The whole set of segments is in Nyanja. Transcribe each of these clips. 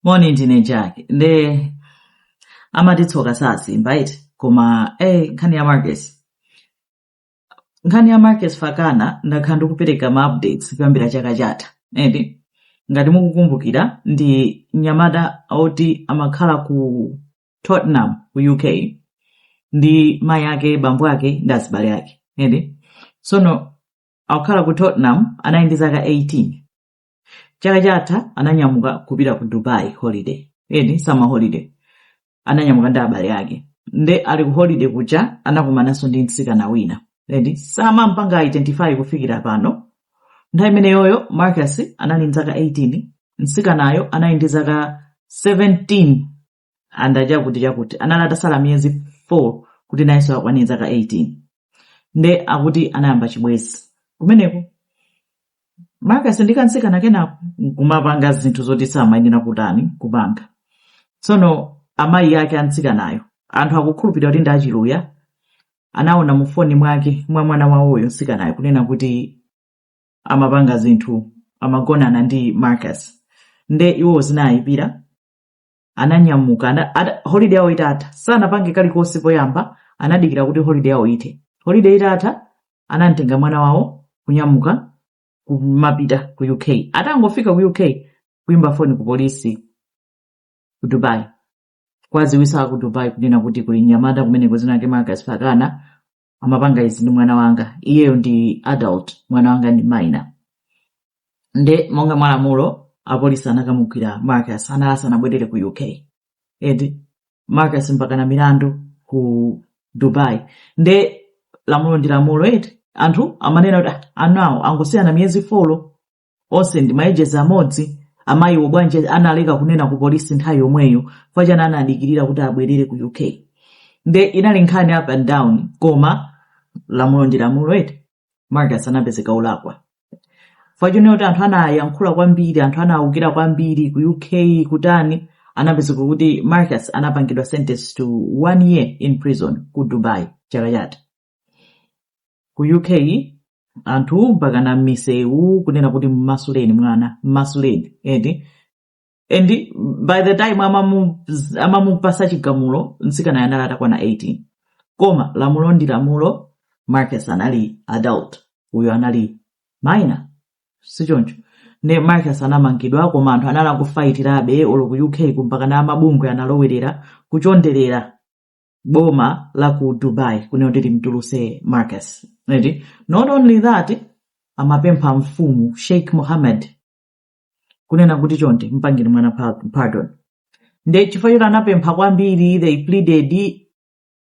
moni ndine jack nde amati tsoka sasimba iti koma eh, nkhani ya marcus nkhani ya marcus fakana ndakhala ndikupereka ma updates kuyambira chaka chatha eti ngati mukukumbukira ndi mnyamata oti amakhala ku tottenham ku uk ndi mayi ake bambo ake ndi azibale ake eti sono akukhala ku tottenham anali ndi zaka 18 chaka chatha ananyamuka kupita ku dubai holiday eti summer holiday ananyamuka ndi abale ake nde ali ku holiday kuja anakumananso ndi mtsikana wina eti samampanga identify kufikira pano nthawi imeneyoyo marcus anali ndi zaka 18 mtsikanayo anali ndi zaka 17 anda chakuti chakuti anali atasala miyezi 4 kuti nayenso akwanitse zaka 18 nde akuti anayamba chibwezi kumeneko Marcus ndi kamtsikana kenako nkumapanga zinthu zoti samayenera kutani kupanga tsono amayi ake amtsikanayo anthu akukhulupirira kuti ndi achiluya anaona mu foni mwake mwa mwana wawoyo mtsikanayo kunena kuti amapanga zinthu amagonana ndi Marcus nde iwo zinayipira ananyamuka ana, at, holiday yawo itatha sanapange kalikonse poyamba anadikira kuti holiday yawo ithe holiday itatha anamtenga mwana wawo kunyamuka kumapita ku uk atangofika ku uk kuimba foni ku polisi ku dubai kwaziwisa ku dubai kunena kuti kuli mnyamata kumeneko zina lake marcus fakana amapanga izi ndi mwana wanga iyeyo ndi adult mwana wanga ndi minor nde monga mwalamulo apolisi anakamugwira marcus anali asanabwerere ku uk eti marcus mpakana milandu ku dubai nde lamulo ndi lamulo eti anthu amanena kuti "Ah, anawo angosiyana miyezi folo onse ndi maejezi amodzi amayiwo bwanji analeka kunena ku polisi nthawi yomweyo chifukwa chani anadikirira kuti abwerere ku uk nde inali nkhani up and down koma lamulo ndi lamulo eti marcus anapezeka olakwa chifukwa chonena kuti anthu anayankhula kwambiri anthu anawukira kwambiri ku uk kutani anapezeka kuti marcus anapangidwa sentence to one year in prison ku dubai chaka chatha ku uk anthu mpakana m'misewu kunena kuti mmasuleni mwana mmasuleni eti and by the time amamu- amamupasa chigamulo mtsikanayo anali atakwana 18 koma lamulo ndi lamulo marcus anali adult uyo anali minor sichoncho ne marcus anamangidwa koma anthu anali akufayitirabe olo ku uk kumpakana mabungwe analowerera kuchonderera boma la ku dubai kunena kuti limtuluse marcus right? not only that amapempha mfumu sheikh mohammed kunena kuti chonde mpangire mwana pa- pardon nde chifukwa choti anapempha kwambiri they pleaded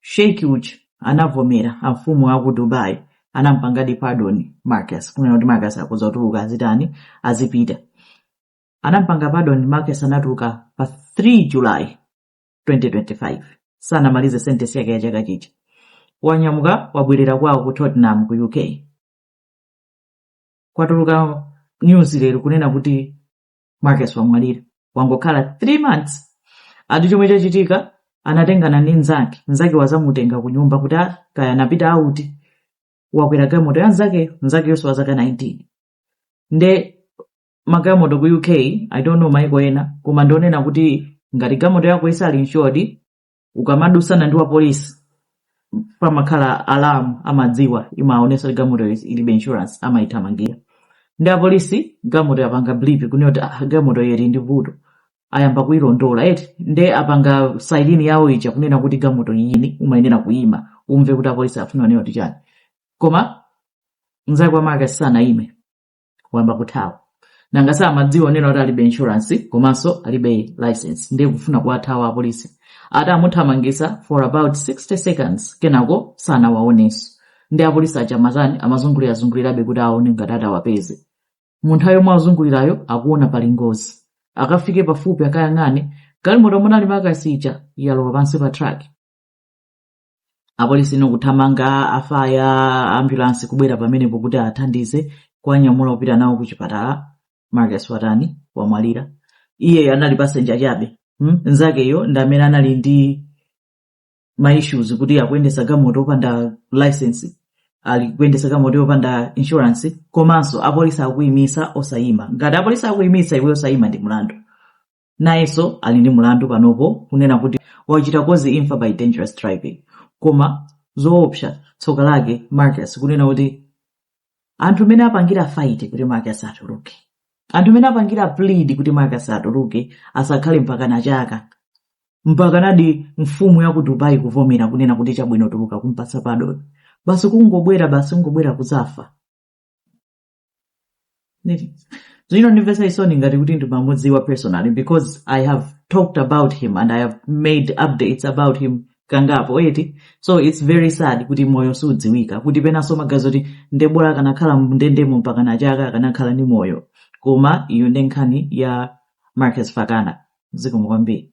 sheikh uja anavomera amfumu aku dubai anampangadi pardon marcus kunena kuti marcus akutha kutuluka azitani azipita anampanga pardon marcus anatuluka pa 3 july 2025 sanamalize sentence yake ya chaka chija wanyamuka wabwerera kwawo ku tottenham ku uk kwatuluka news lero kunena kuti marcus wamwalira wangokhala 3 months ati chomwe chachitika anatengana ndi mnzake mnzake wazamutenga ku nyumba kuti "Ah, kaya anapita out wakwera galimoto ya mnzakeyo mnzakeyonso wazaka 19 nde magamoto ku uk i don't know maiko ena koma ndionena kuti ngati gamoto yako isali insured ukamadusana ndi wapolisi pamakhala alarm amadziwa imaonesa kuti gamoto is- ilibe insurance amayithamangira nde apolisi gamoto yapanga blip kunena kuti ah, gamoto iyi ili ndi vuto ayamba kuyilondola eti nde apanga siren yawo ija kunena kuti gamoto ime umayenera kuyima umve kuti apolisi afuna anene kuti chani koma mzake wa marcus sanayime wayamba kuthawa nanga si amadziwa kunena kuti alibe insurance komanso alibe license ndiye kufuna kuwathawa apolisi atamuthamangisa for about 60 seconds kenako sanawaonenso nde apolisi aja amatani amazungulirazungulirabe kuti aone ngati atawapeze mu nthawi yomwe azungulirayo akuona pali ngozi akafike pafupi akayang'ane galimoto munali marcus ija yalowa pansi pa truck apolisi nkuthamanga a fire ambulansi kubwera pamenepo kuti athandize kuwanyamula kupita nawo ku chipatala marcus watani wamwalira iye anali pasenja chabe hmm? nzakeyo ndi amene anali ndi ma issues kuti akuyendesa gamoto opanda license ali kuyendesa gamoto opanda insurance komanso apolisi akuyimisa osayima ngati apolisi akuyimisa iwe osayima ndi mlandu nayenso ali ndi mulandu panopo kunena kuti wachita cause imfa by dangerous driving koma zoopsa tsoka lake marcus kunena kuti anthu mmene apangira fight kuti marcus atuluke anthu mmene apangira plead kuti marcus atuluke asakhale mpakana chaka mpakanadi mfumu ya ku dubai kuvomera kunena kuti chabwino tuluka kumpatsa pardon basi kungobwera basi kungobwera kuzafa Zikundimvetsa chisoni ngati kuti ndimamudziwa personally because I have talked about him and I have made updates about him kangapo eti so it's very sad kuti moyo sudziwika kuti penanso umaganiza kuti nde bola akanakhala mndendemo mpakana chaka akanakhala ndi moyo koma iyo nde nkhani ya Marcus Fakana zikomo kwambiri